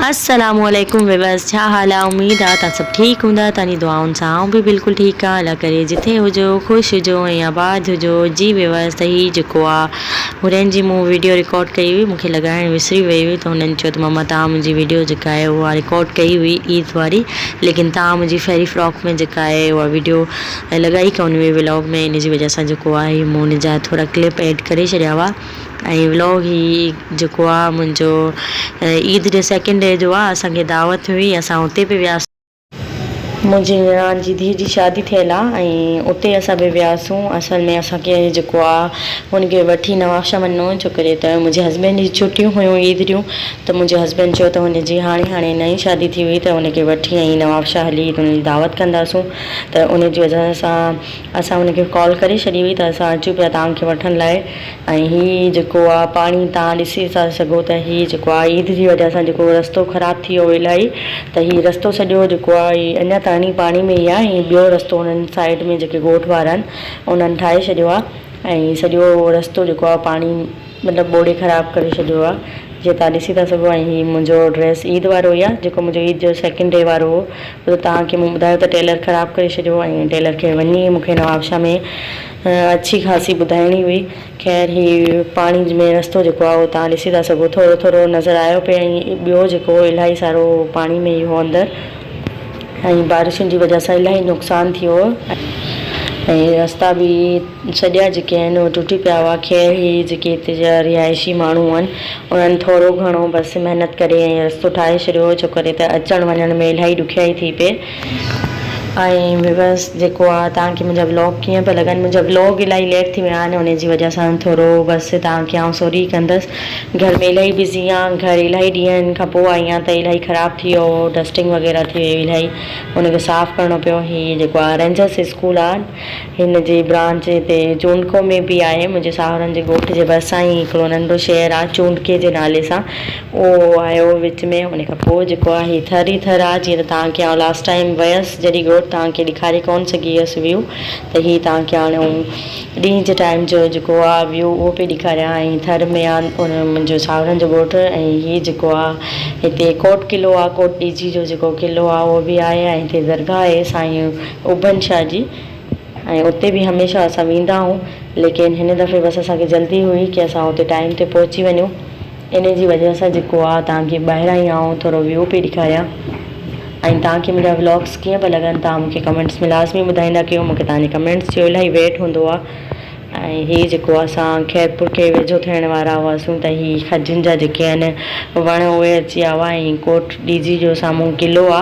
السلام عليڪم ويورز ڇا حال آ اميد آ تان سڀ ٺيڪ ھوندا تان جي دعائن سان آئون به بلڪل ٺيڪ آ الله ڪري جتي ھجو خوش ھجو ۽ آباد ھجو جي ويورز ته ھي جيڪو آ ھورين جي مون ويڊيو رڪارڊ ڪئي ھئي مونکي لڳائڻ وسري وئي ھئي ته ھنن چيو ته مما تان منھنجي ويڊيو جيڪا آھي اھا رڪارڊ ڪئي ھئي عيد واري ليڪن تان منھنجي فيري فراڪ ۾ جيڪا آھي اھا ويڊيو لڳائي ڪون ھئي ولاگ ۾ ان جي وجھ سان جيڪو آ ھي مون ان جا ٿورا ڪلپ ايڊ ڪري ڇڏيا ھئا ۽ ولوگ هي جيڪو آ منهنجو عيد جي سيڪنڊ ڊي جو آ اسان کي دعوت هئي اسان اتي به وياسون. منهنجي نڻان جي ڌيء جي شادي ٿيل آ ۽ اتي اسان به وياسون اصل ۾ اسان کي جيڪو آ هن کي وٺي نوابشاهه وڃڻو هو ڇو ڪري ته منهنجي هسبينڊ جي ڇٽيون هيون عيد جون ته منهنجي هسبينڊ چيو ته هن جي هاڻي هاڻي نئين شادي ٿي هئي ته هن کي وٺي ۽ نوابشاهه هلي ته هن جي دعوت ڪنداسون ته ان جي وجهه سان اسان هن کي ڪال ڪري ڇڏي هئي ته اسان اچون پيا توهان کي وٺڻ لاء. ۽ هي جيڪو آ پاڻي تهان ڏسي ٿا سگهو ته هي جيڪو آ عيد جي وجه سان جيڪو رستو خراب ٿي ويو الائي ته هي رستو سڄو جيڪو آ هي اڃا تائڻي پاڻي ۾ ئي آ ۽ ٻيو رستو هنن سائيڊ ۾ جيڪي ڳوٺ وارا آهن انهن ٺاهي ڇڏيو آ ۽ سڄو رستو جيڪو آ پاڻي مطلب ٻوڙي خراب ڪري ڇڏيو آ جيئن تهان ڏسي ٿا سگهو ۽ هي منهنجو ڊريس عيد وارو ئي آ جيڪو منهنجو عيد جو سيڪنڊ ڊي وارو هو تهان کي مون ٻڌايو ته ٽيلر خراب ڪري ڇڏيو ۽ ٽيلر کي وڃي مون کي نوابشاهه ۾ اڇي خاصي ٻڌائڻي هئي. خير هي پاڻي ۾ رستو جيڪو آهي اهو توهان ڏسي ٿا سگهو ٿورو ٿورو نظر آيو پئي ۽ ٻيو جيڪو هو الاهي سارو پاڻي ۾ ئي هو اندر ۽ بارشن جي وجه سان الاهي نقصان ٿي ويو ۽ رستا به سڄا جيڪي آهن اهي ٽٽي پيا هئا خير هي جيڪي هتي جا رهائشي ماڻهو هئن انهن ٿورو گهڻو بس محنت ڪري ۽ رستو ٺاهي ڇڏيو هو ڇو ڪري ته اچڻ وڃڻ ۾ الاهي ڏکيائي ٿي پئي ائين ويوس جيڪو آ توهان کي منهنجا ولاگ ڪيئن پيا لڳن منهنجا ولاگ الائي ليٽ ٿي ويا آهن انهي جي وجه سان ٿورو بس توهان کي آئون سوري ڪندس گهر ۾ الائي بزي آهيان گهر الائي ڏينهن کان پوء آئي آهيان ته الائي خراب ٿي ويو هو ڊسٽنگ وغيره ٿي ويئي الائي ان کي صاف ڪرڻو پيو هي جيڪو آ رينجرس اسڪول آ هن جي برانچ هتي چونڊڪو ۾ به آهي. منهنجي ساهرن جي ڳوٺ جي ڀرسان ئي هڪڙو ننڍو شهر آهي چونڊڪي جي نالي سان اهو آهي وچ ۾ ان کان پوء جيڪو آهي هي ٿر ئي ٿر آهي جيئن ته توهان کي آئون لاسٽ ٽائيم ويس جڏهن ڳوٺ توهان کي ڏيکاري ڪونه سگهي هيس ويو ته هي توهان کي هاڻي آئون ڏينهن جي ٽائيم جو جيڪو آهي ويو اهو پئي ڏيکاريان ۽ ٿر ۾ آهي ان منهنجو ساهرن جو ڳوٺ ۽ هي جيڪو آهي هتي ڪوٽ قلعو آهي ڪوٽ ڏيجي جو جيڪو قلعو آهي اهو به آهي ۽ هتي درگاهه آهي سائين اوڀن شاهه جي ۽ اتي به هميشه اسان ويندا آهون ليڪن هن دفعي بس اسان کي جلدي هئي ڪي اسان اتي ٽائيم تي پهچي وڃون انهي جي وجه سان جيڪو آ توهان کي ٻاهران ئي آئون ٿورو ويو پئي ڏيکاريان ۽ توهان کي منهنجا ولاگس ڪيئن پئا لڳن توهان مون کي ڪمينٽس ۾ لازمي ٻڌائيندا ڪيو مون کي توهان جي ڪمينٽس جو الاهي ويٽ هوندو آ ۽ هي جيڪو اسان خيرپور کي ويجهو ٿيڻ وارا هئاسون ته هي کجين جا جيڪي آهن وڻ اهي اچي آوا ۽ ڪوٽ ڏيجي جو سامهون قلعو آ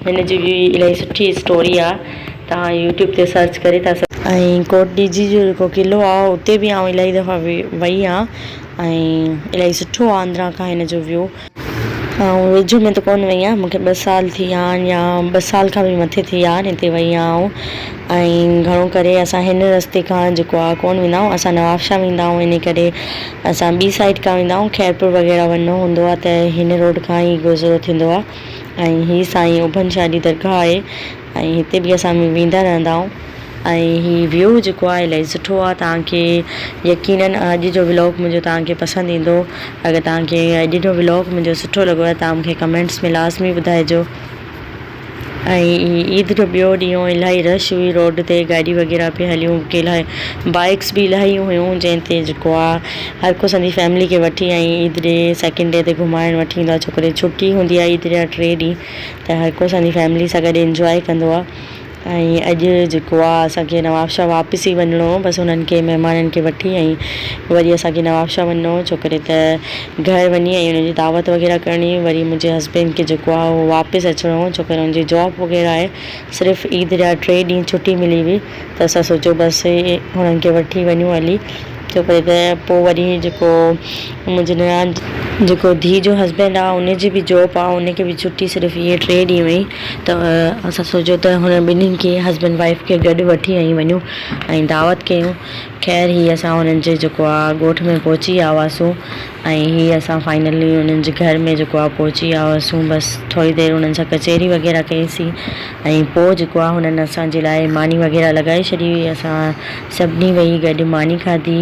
هن جي به الاهي سٺي اسٽوري آ توهان يوٽيوب تي سرچ ڪري ٿا سگهو. ۽ ڪوٽ ڏيجي جو جيڪو قلعو آ اتي به آئون الاهي دفعا وي وئي آ ۽ الاهي سٺو آ اندران کان هن جو ويو. آئون ويجهو ۾ ته ڪون وئي آهيان مونکي ٻه سال ٿي ويا آهن يا ٻه سال کان به مٿي ٿي ويا آهن هتي وئي آهيان آئون ۽ گهڻو ڪري اسان هن رستي کان جيڪو آ ڪون ويندا آهيون اسان نوابشاهه ويندا آهيون انهي ڪري اسان ٻي سائيڊ کان ويندا آهيون خيرپور وغيره وڃڻو هوندو آ ته هن روڊ کان ئي گذرو ٿيندو آ. ۽ هي سائين اوڀن شاهه جي درگاهه آهي ۽ هتي به اسان ويندا رهندا آهيون ۽ هي ويو جيڪو آهي الاهي سٺو آهي توهان کي يقيناً اڄ جو ولاگ منهنجو توهان کي پسند ايندو اگر توهان کي اڄ جو ولاگ منهنجو سٺو لڳو آهي توهان مون کي ڪمينٽس ۾ لازمي ٻڌائجو ۽ عيد جو ٻيو ڏينهن هو الاهي رش هئي روڊ تي گاڏي وغيره پي هليون ڪي الاهي بائڪس به الاهي هيون جنهن تي جيڪو آهي هر ڪو سندي فيملي کي وٺي ۽ عيد ڏي سيڪنڊ ڊي تي گهمائڻ وٺي ايندو آهي ڇو ڪري ڇٽي هوندي آهي عيد جا ٽي ڏينهن ته هر ڪو سندي فيملي سان گڏ انجوائي ڪندو آهي ۽ اڄ جيڪو آهي اسانکي نوابشاهه واپس ئي وڃڻو هو بس انهن کي مهمانن کي وٺي ۽ وري اسانکي نوابشاهه وڃڻو هو ڇو ڪري ته گهر وڃي ۽ انهن جي دعوت وغيره ڪرڻي هئي وري منهنجي هسبينڊ کي جيڪو آهي اهو واپس اچڻو هو ڇو ڪري انهن جي جاب وغيره آهي صرف عيد جا ٽي ڏينهن ڇٽي ملي هئي ته اسان سوچيو بس هنن کي وٺي وڃون هلي ڇو ڪري ته پوء وري جيڪو منهنجي نڻان جيڪو ڌيء جو هسبينڊ آ ان جي به جاب آ ان کي به ڇٽي صرف اهي ٽي ڏينهن هئي ته اسان سوچيو ته هنن ٻنهين کي هسبينڊ وائيف کي گڏ وٺي هنئي وڃون ۽ دعوت ڪيون خير هي اسان هنن جي جيڪو آ ڳوٺ ۾ پهچي ويا هئاسون ۽ هي اسان فائنلي انهن جي گهر ۾ جيڪو آ پهچي ويا هئاسون بس ٿوري دير انهن سان ڪچهري وغيره ڪئي سي ۽ پوء جيڪو آ هنن اسان جي لاء ماني وغيره لڳائي ڇڏي هئي اسان سڀني ويهي گڏ ماني کاڌي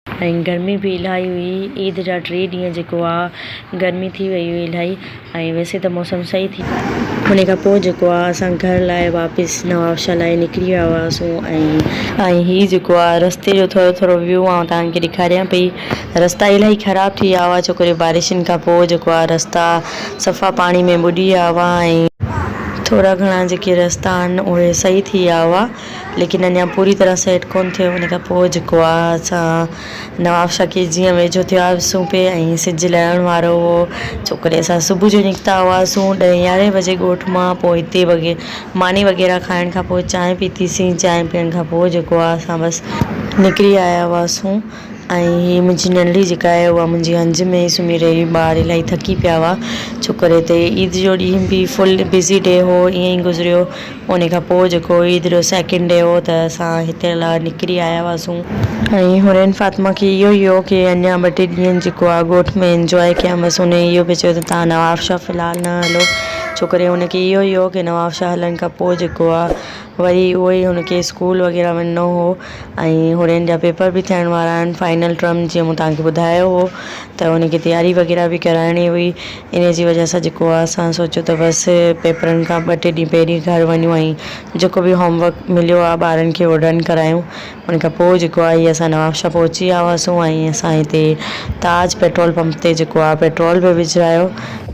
۽ گرمي به الاهي هئي عيد جا ٽي ڏينهن جيڪو آ گرمي ٿي وئي هئي الاهي. ۽ ويسي ته موسم صحيح ٿي. انهي کان پوء جيڪو آ اسان گهر لاء واپس نوابشاهه لاء نڪري ويا هئاسون ۽. ۽ هي جيڪو آ رستي جو ٿورو ٿورو ويو آئون توهان کي ڏيکاريان پئي. رستا الاهي خراب ٿي ويا هئا ڇوڪري بارشن کان پوء جيڪو آ رستا صفا پاڻي ۾ ٻڏي ويا هئا ۽. ٿورا گهڻا جيڪي رستا آهن اهي صحيح ٿي ويا هئا ليڪن اڃان پوري طرح سيٽ ڪونه ٿيو انهي کان پوء جيڪو آ اسان. نواب شڪيل جيئن ويجهو ٿيو هئاسون پئي ۽ سج لهڻ وارو هو. ڇوڪري اسان صبح جو نڪتا هئاسون ڏهين يارهين بجي ڳوٺ مان پوء هتي وگي ماني وغيره کائڻ کان پوء چانهه پيتي سين چانهه پيئڻ کان پوء جيڪو آهي اسان بس نڪري آيا هئاسون ۽ هي منهنجي ننڙي جيڪا آهي اها منهنجي هنج ۾ ئي سمهي رهي هئي ٻار الائي ٿڪي پيا هئا ڇوڪري تي عيد جو ڏينهن به فل بزي ڊي هو ائين ئي گذريو. انهي کان پوء جيڪو عيد رو سيڪنڊ ڊي هو ته اسان هتي لا نڪري آيا هئاسون. ۽ حورين فاطمه کي اهو ئي هو ڪي اڃان ٻه ٽي ڏينهن جيڪو آ ڳوٺ ۾ انجواء ڪيان بس انهي اهو به چيو ته تان نواب شاهه في الحال نه هلو ڇو ڪري هن کي اهو ئي هو ڪي نواب شاهه هلڻ کان پوء جيڪو آ وري اهو ئي هن کي اسڪول وغيره وڃڻو هو ۽ حورين جا پيپر به ٿيڻ وارا آهن فائنل ٽرم جيئن مون توهان کي ٻڌايو هو ته انهي کي تياري وغيره به ڪرائڻي هئي انهيء جي وجهه سان جيڪو آهي اسان سوچيو ته بس پيپرن کان ٻه ٽي ڏينهن پهرين گهر وڃون ۽ جيڪو به هوم ورڪ مليو آهي ٻارن کي اهو ڊن ڪرايون ان کان پوء جيڪو آهي اسان نوابشاهه پهچي ويا هئاسون ۽ اسان هتي تاج پيٽرول پمپ تي جيڪو آهي پيٽرول به وجهرايو ۽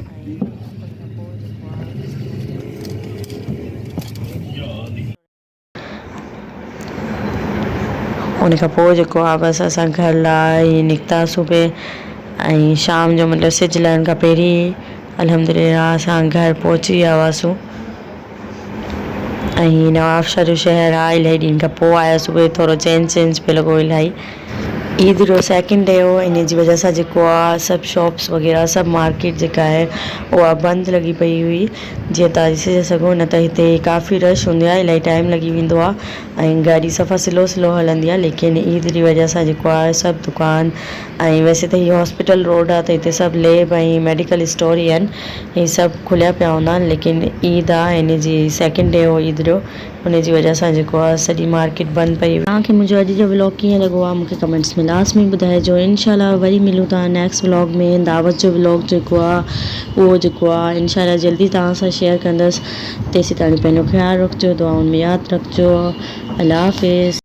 ان کان پوء جيڪو آ بس اسان گهر لاء ئي نڪتاسون پي ۽ شام جو مطلب سج لهڻ کان پهرين ئي الحمدلله اسان گهر پهچي ويا هئاسون ۽ نوابشاهه جو شهر آ الائي ڏينهن کان پوء آياسون ٿورو چينج چينج پي لڳو الائي عيد جو سيڪنڊ ڊي هو ان جي وجه سان جيڪو آ سڀ شاپس وغيره سڀ مارڪيٽ جيڪا آهي اها بند لڳي پئي هئي جيئن توهان ڏسي ٿا سگهو نه ته هتي ڪافي رش هوندي آهي الاهي ٽائيم لڳي ويندو آ ۽ گاڏي صفا سلو سلو هلندي آ ليڪن عيد جي وجه سان جيڪو آ سڀ دڪان ۽ ويسي ته هي هاسپيٽل روڊ آ ته هتي سڀ ليب ۽ ميڊيڪل اسٽور ئي آهن هي سڀ کليا پيا هوندا آهن ليڪن عيد آ ان جي سيڪنڊ ڊي هو عيد جو انهي جي وجه سان جيڪو آ سڄي مارڪيٽ بند پئي. توهان کي منهنجو اڄ جو ولاگ ڪيئن لڳو آ مونکي ڪمينٽس ۾ لازمي ٻڌائجو انشاء الله وري ملون ٿا نيڪسٽ ولاگ ۾ دعوت جو ولاگ جيڪو آ اهو جيڪو آ انشاء الله جلدي توهان سان شيئر ڪندس تيسيتاڻي پنهنجو خيال رکجو دعائن ۾ ياد رکجو الله حافظ.